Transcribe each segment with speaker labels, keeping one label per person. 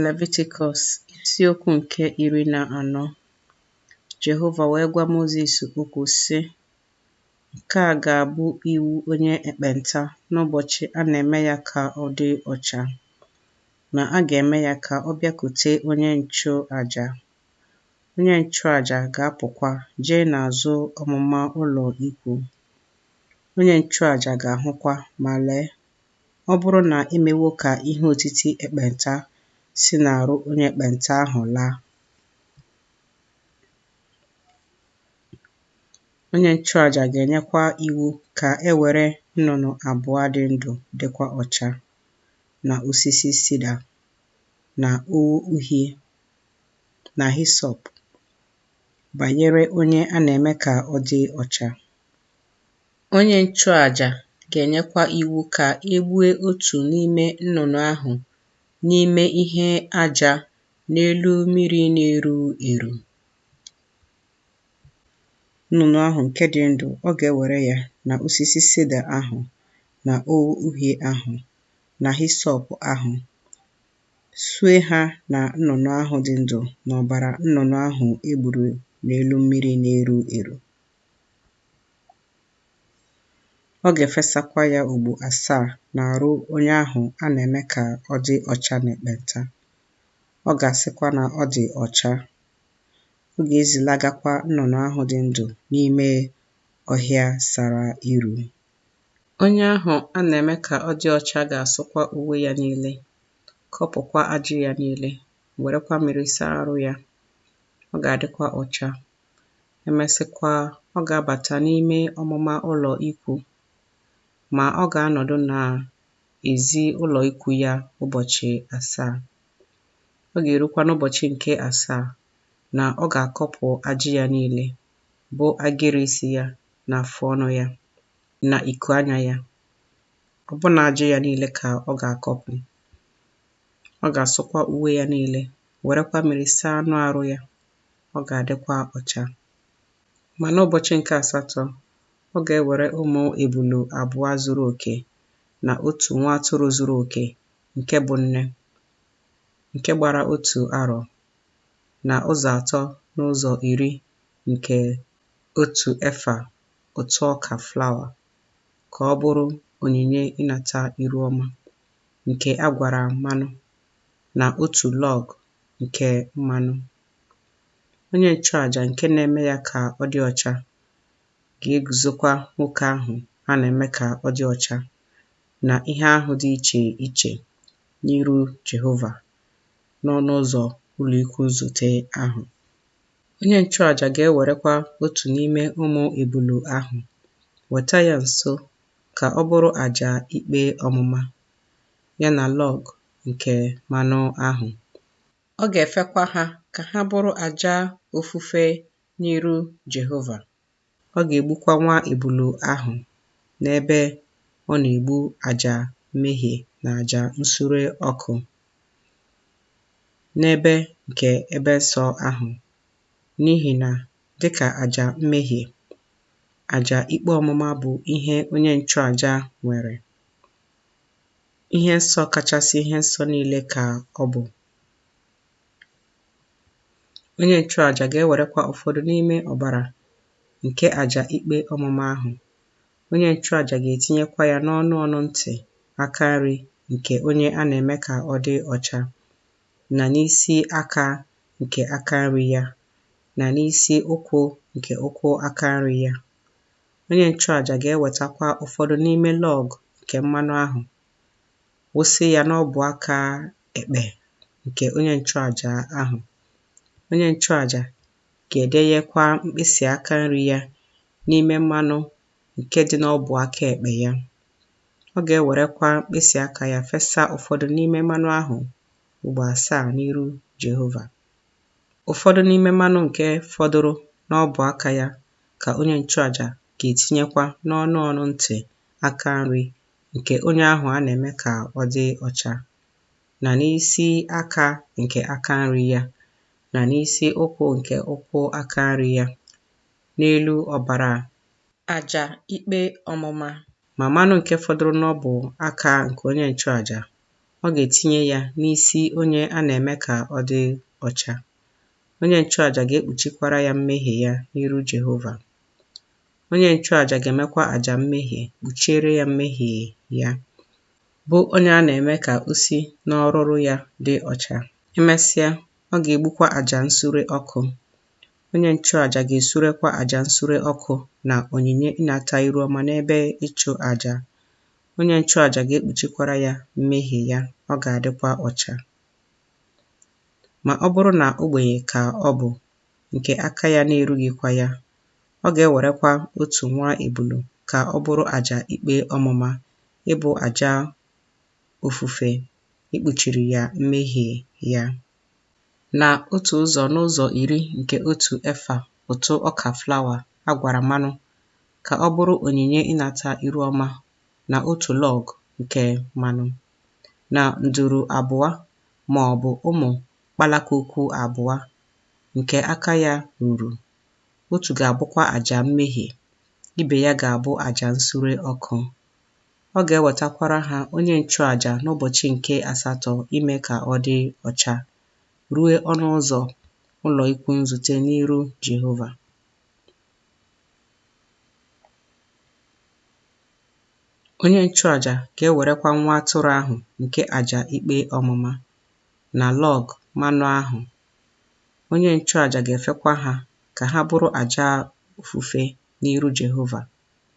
Speaker 1: Levitikọs isiokwu nke iri na anọ Jehova wee gwa Mozis okwu, sị, Nke a ga-abụ iwu onye ekpenta n'ụbọchị a na-eme ya ka ọ dị ọcha, na a ga-eme ya ka ọ bịakute onye nchụaja. Onye nchụaja ga-apụkwa jee n'azụ ọmụma ụlọ ikwu. Onye nchụaja ga-ahụkwa, ma lee, Ọ bụrụ na e mewo ka ihe otiti ekpenta si n'arụ onye ekpenta ahụ laa, onye nchụaja ga-enyekwa iwu ka e were nnụnụ abụọ dị ndụ dịkwa ọcha, na osisi sida, na ogho uhie, na hisọp, banyere onye a na-eme ka ọ dị ọcha. Onye nchụaja ga-enyekwa iwu ka e gbue otu n'ime nnụnụ ahụ n'ime ihe aja n'elu mmiri na-eru eru. Nnụnụ ahụ nke dị ndụ, ọ ga-ewere ya na osisi sida ahụ na ogho uhie ahụ na hisọp ahụ, sue ha na nnụnụ ahụ dị ndụ n'ọbara nnụnụ ahụ e gburu n'elu mmiri na-eru eru. Ọ ga-efesakwa ya ugbo asaa n'arụ onye ahụ a na-eme ka ọ dị ọcha n'ekpenta. Ọ ga-asịkwa na ọ dị ọcha. Ọ ga-ezilagakwa nnụnụ ahụ dị ndụ n'ime ọhịa sara iru. Onye ahụ a na-eme ka ọ dị ọcha ga-asụkwa uwe ya niile, kọpụkwa ajị ya niile, werekwa mmiri saa arụ ya. Ọ ga-adịkwa ọcha. e mesịkwa, ọ ga-abata n'ime ọmụma ụlọ ikwu, ma ọ ga-anọdụ n'ezi ụlọ ikwu ya ụbọchị asaa. Ọ ga-erukwa n'ụbọchị nke asaa na ọ ga-akọpụ ajị ya niile, bụ agịrị isi ya na afụ ọnụ ya na iku anya ya, ọbụna ajị ya niile ka ọ ga-akọpụ. Ọ ga-asụkwa uwe ya niile, werekwa mmiri saa anụ arụ ya. ọ ga-adịkwa ọcha. Ma n'ụbọchị nke asatọ, ọ ga-ewere ụmụ ebulu abụọ zuru oke na otu nwa atụrụ zuru oke nke bụ nne, nke gbara otu arọ na ụzọ atọ n'ụzọ iri nke otu efa ụtụ ọka flawa, ka ọ bụrụ onyinye ịnata iru ọma, nke a gwara mmanụ. na otu lọg nke mmanụ. Onye nchụaja nke na-eme ya ka ọ dị ọcha ga-eguzokwa nwoke ahụ a na-eme ka ọ dị ọcha na ihe ahụ dị iche iche n'iru Jehova n'ọnụ ụzọ ụlọikwuu nzute ahụ. Onye nchụaja ga-ewerekwa otu n'ime ụmụ ebulu ahụ weta ya nso ka ọ bụrụ aja ikpe ọmụma. ya na lọg nke mmanụ ahụ. Ọ ga-efekwa ha ka ha bụrụ aja ofufe n'iru Jehova. Ọ ga-egbukwa nwa ebulu ahụ n'ebe ọ na-egbu aja mmehie na aja nsure ọkụ, n'ebe nke ebe nsọ ahụ, n'ihi na dị ka aja mmehie, aja ikpe ọmụma bụ ihe onye nchụaja nwere. Ihe nsọ kachasị ihe nsọ niile ka ọ bụ. Onye nchụaja ga-ewerekwa ụfọdụ n'ime ọbara nke aja ikpe ọmụma ahụ. Onye nchụaja ga-etinyekwa ya n'ọnụ ọnụ ntị aka nri nke onye a na-eme ka ọ dị ọcha, na n'isi aka nke aka nri ya, na n'isi ụkwụ nke ụkwụ aka nri ya. Onye nchụaja ga-ewetakwa ụfọdụ n'ime lọg nke mmanụ ahụ, wụsị ya n'ọbụ aka ekpe nke onye nchụaja ahụ. Onye nchụaja ga-edenyekwa mkpịsị aka nri ya n'ime mmanụ nke dị n'ọbụ aka ekpe ya. Ọ ga-ewerekwa mkpịsị aka ya fesa ụfọdụ n'ime mmanụ ahụ ugbo asaa n'iru Jehova. Ụfọdụ n'ime mmanụ nke fọdụrụ n'ọbụ aka ya ka onye nchụaja ga-etinyekwa n'ọnụ ọnụ ntị aka nri nke onye ahụ a na-eme ka ọ dị ọcha, na n'isi aka nke aka nri ya, na n'isi ụkwụ nke ụkwụ aka nri ya, n'elu ọbara aja ikpe ọmụma. Ma mmanụ nke fọdụrụ n'ọbụ aka nke onye nchụaja, ọ ga-etinye ya n'isi onye a na-eme ka ọ dị ọcha. Onye nchụaja ga-ekpuchikwara ya mmehie ya n'iru Jehova. Onye nchụaja ga-emekwa aja mmehie kpuchiere ya mmehie ya, bụ onye a na-eme ka o si n'ọrụrụ ya dị ọcha. Emesịa, ọ ga-egbukwa aja nsure ọkụ. Onye nchụaja ga-esurekwa aja nsure ọkụ na onyinye ịnata iru ọma n'ebe ịchụ aja. Onye nchụaja ga-ekpuchikwara ya mmehie ya, ọ ga-adịkwa ọcha. Ma ọ bụrụ na ogbenye ka ọ bụ, nke aka ya na-erughịkwa ya, ọ ga-ewerekwa otu nwa ebulu ka ọ bụrụ aja ikpe ọmụma, ịbụ aja ofufe ikpuchiri ya mmehie ya. na otu ụzọ n'ụzọ iri nke otu efa ụtụ ọka flawa a gwara mmanụ ka ọ bụrụ onyinye ịnata iru ọma, na otu lọg nke mmanụ, na nduru abụọ ma ọ bụ ụmụ kpalakwukwu abụọ nke aka ya ruru, otu ga-abụkwa aja mmehie, ibe ya ga-abụ aja nsure ọkụ. Ọ ga-ewetakwara ha onye nchụaja n'ụbọchị nke asatọ ime ka ọ dị ọcha, ruo ọnụ ụzọ ụlọ ikwu nzute n'iru Jehova. Onye nchụaja ga-ewerekwa nwa atụrụ ahụ nke aja ikpe ọmụma na lọg mmanụ ahụ. Onye nchụaja ga-efekwa ha ka ha bụrụ aja ofufe n'iru Jehova.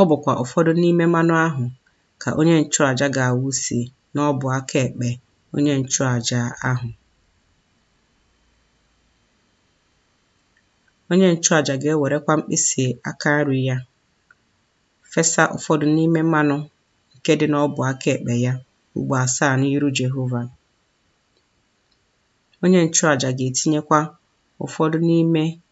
Speaker 1: Ọ bụkwa ụfọdụ n'ime mmanụ ahụ ka onye nchụaja ga-awụsi n'ọbụ aka ekpe onye nchụaja ahụ. Onye nchụaja ga-ewerekwa mkpịsị aka nri ya fesa ụfọdụ n'ime mmanụ nke dị n'ọbụ aka ekpe ya ugbo asaa n'iru Jehova. Onye nchụaja ga-etinyekwa ụfọdụ n'ime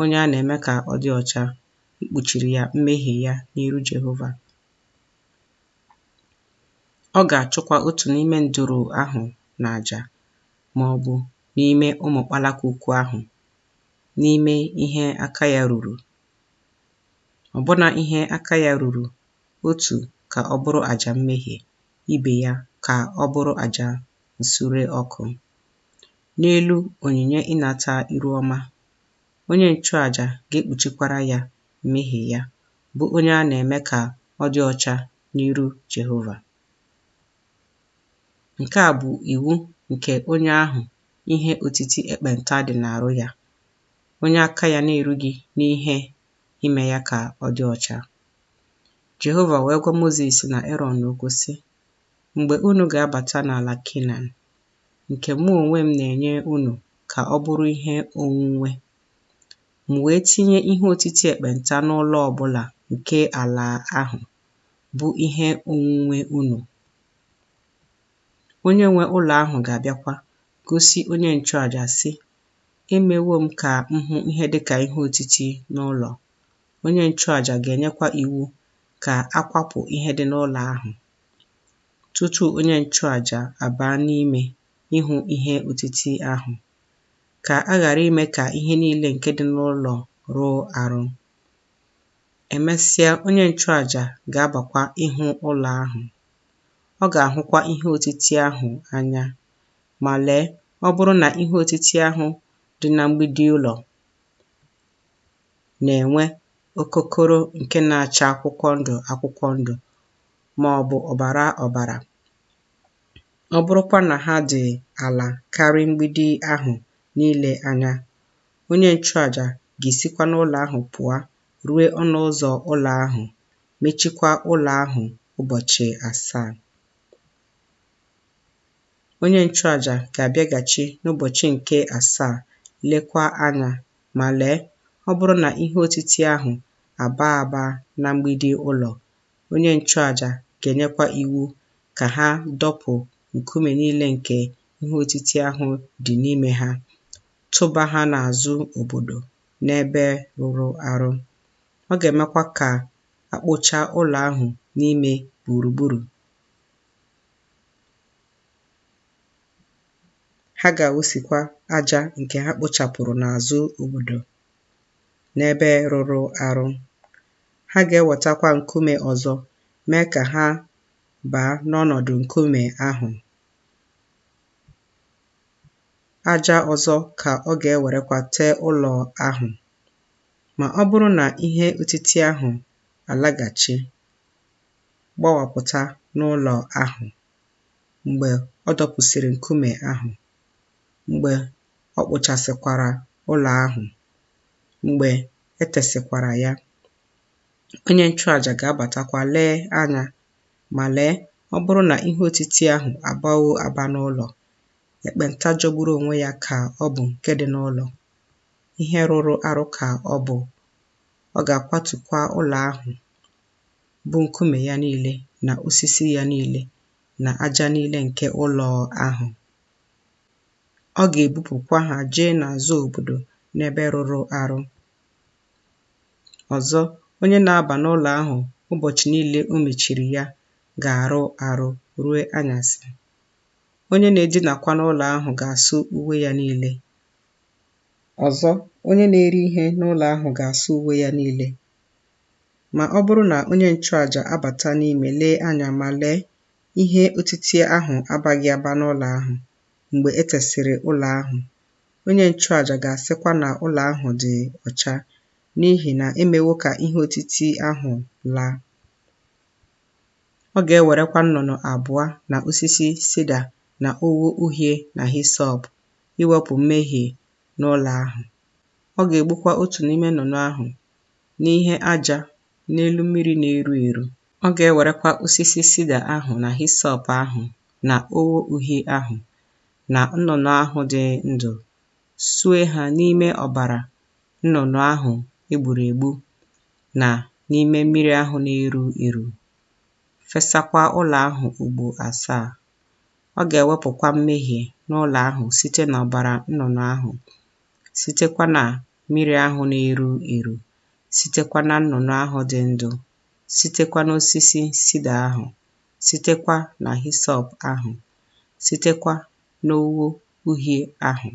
Speaker 1: onye a na-eme ka ọ dị ọcha, ikpuchiri ya mmehie ya n'iru Jehova. Ọ ga-achụkwa otu n'ime nduru ahụ n'aja ma ọ bụ n'ime ụmụ kpalakwukwu ahụ n'ime ihe aka ya ruru. Ọbụna ihe aka ya ruru otu ka ọ bụrụ aja mmehie, ibe ya ka ọ bụrụ aja nsure ọkụ. n'elu onyinye ịnata iru ọma, onye nchụaja ga-ekpuchikwara ya mmehie ya, bụ onye a na-eme ka ọ dị ọcha n'iru Jehova. Nke a bụ iwu nke onye ahụ ihe otiti ekpenta dị n'arụ ya, onye aka ya na-erughị n'ihe ime ya ka ọ dị ọcha. Jehova wee gwa Mozis na Erọn okwu, sị, Mgbe unu ga-abata n'ala Kenan, nke mụ onwe m na-enye unu ka ọ bụrụ ihe onwunwe. M wee tinye ihe otiti ekpenta n'ụlọ ọ bụla nke ala ahụ bụ ihe onwunwe unu. Onye nwe ụlọ ahụ ga-abịakwa gosi onye nchụaja, sị, Emewo m ka m hụ ihe dị ka ihe otiti n'ụlọ. Onye nchụaja ga-enyekwa iwu ka a kwapụ ihe dị n'ụlọ ahụ. tutu onye nchụaja abaa n'ime ịhụ ihe otiti ahụ, ka a ghara ime ka ihe niile nke dị n'ụlọ rụọ arụ. Emesịa, onye nchụaja ga-abakwa ịhụ ụlọ ahụ. Ọ ga-ahụkwa ihe otiti ahụ anya. Ma lee, ọ bụrụ na ihe otiti ahụ dị na mgbidi ụlọ na-enwe okokoro nke na-acha akwụkwọ ndụ akwụkwọ ndụ, ma ọ bụ ọbara ọbara, ọ bụrụkwa na ha dị ala karị mgbidi ahụ niile anya, onye nchụaja ga-esikwa n'ụlọ ahụ pụọ rue ọnụ ụzọ ụlọ ahụ, mechikwa ụlọ ahụ ụbọchị asaa. Onye nchụaja ga-abịaghachi n'ụbọchị nke asaa lekwa anya, ma lee, ọ bụrụ na ihe otiti ahụ abaa aba na mgbidi ụlọ, Onye nchụaja ga-enyekwa iwu ka ha dọpụ nkume niile nke ihe otiti ahụ dị n'ime ha, tụba ha n'azụ obodo n'ebe rụrụ arụ. Ọ ga-emekwa ka a kpụchaa ụlọ ahụ n'ime gburugburu. Ha ga-awụsikwa aja nke ha kpụchapụrụ n'azụ obodo n'ebe rụrụ arụ. Ha ga-ewetakwa nkume ọzọ mee ka ha baa n'ọnọdụ nkume ahụ. Aja ọzọ ka ọ ga-ewerekwa tee ụlọ ahụ. Ma ọ bụrụ na ihe otiti ahụ alaghachi gbawapụta n'ụlọ ahụ mgbe ọ dọpụsịrị nkume ahụ, mgbe ọ kpụchasịkwara ụlọ ahụ. Mgbe e tesịkwara ya, onye nchụaja ga-abatakwa lee anya, ma lee, ọ bụrụ na ihe otiti ahụ abawo aba n'ụlọ, ekpenta jọgburu onwe ya ka ọ bụ nke dị n'ụlọ, ihe rụrụ arụ ka ọ bụ, ọ ga-akwatukwa ụlọ ahụ, bụ nkume ya niile na osisi ya niile na aja niile nke ụlọ ahụ. ọ ga-ebupụkwa ha jee n'azụ obodo n'ebe rụrụ arụ. Ọzọ, onye na-aba n'ụlọ ahụ ụbọchị niile o mechiri ya ga-arụ arụ ruo anyasị. Onye na-edinakwa n'ụlọ ahụ ga-asụ uwe ya niile. Ọzọ, onye na-eri ihe n'ụlọ ahụ ga-asụ uwe ya niile. Ma ọ bụrụ na onye nchụaja abata n'ime lee anya ma lee Ihe otiti ahụ abaghị aba n'ụlọ ahụ mgbe e tesịrị ụlọ ahụ, onye nchụaja ga-asịkwa na ụlọ ahụ dị ọcha n'ihi na e mewo ka ihe otiti ahụ laa. Ọ ga-ewerekwa nnụnụ abụọ na osisi sida na ogho uhie na hisọp iwepụ mmehie n'ụlọ ahụ. Ọ ga-egbukwa otu n'ime nnụnụ ahụ n'ihe aja n'elu mmiri na-eru eru Ọ ga-ewerekwa osisi sida ahụ na hisọp ahụ na ogho uhie ahụ na nnụnụ ahụ dị ndụ sue ha n'ime ọbara nnụnụ ahụ e gburu egbu na n'ime mmiri ahụ na-eru eru, fesakwa ụlọ ahụ ugbo asaa. Ọ ga-ewepụkwa mmehie n'ụlọ ahụ site n'ọbara nnụnụ ahụ, sitekwa na mmiri ahụ na-eru eru, sitekwa na nnụnụ ahụ dị ndụ sitekwa n'osisi sida ahụ, sitekwa na hisọp ahụ, sitekwa n'ogho uhie ahụ.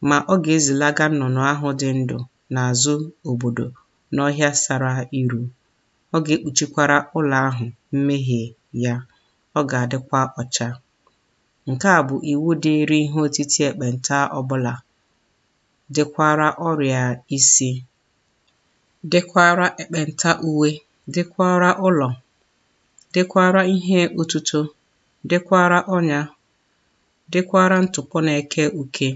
Speaker 1: Ma ọ ga-ezilaga nnụnụ ahụ dị ndụ n'azụ obodo n'ọhịa sara iru, ọ ga-ekpuchikwara ụlọ ahụ mmehie ya, ọ ga-adịkwa ọcha. Nke a bụ iwu dịịrị ihe otiti ekpenta ọbụla, dịkwara ọrịa isi dịkwara ekpenta uwe, dịkwara ụlọ, dịkwara ihe otuto, dịkwara ọnya, dịkwara ntụpọ na-eke uke,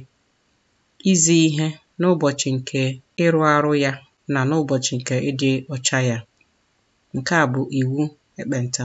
Speaker 1: izi ihe n'ụbọchị nke ịrụ arụ ya na n'ụbọchị nke ịdị ọcha ya. Nke a bụ iwu ekpenta.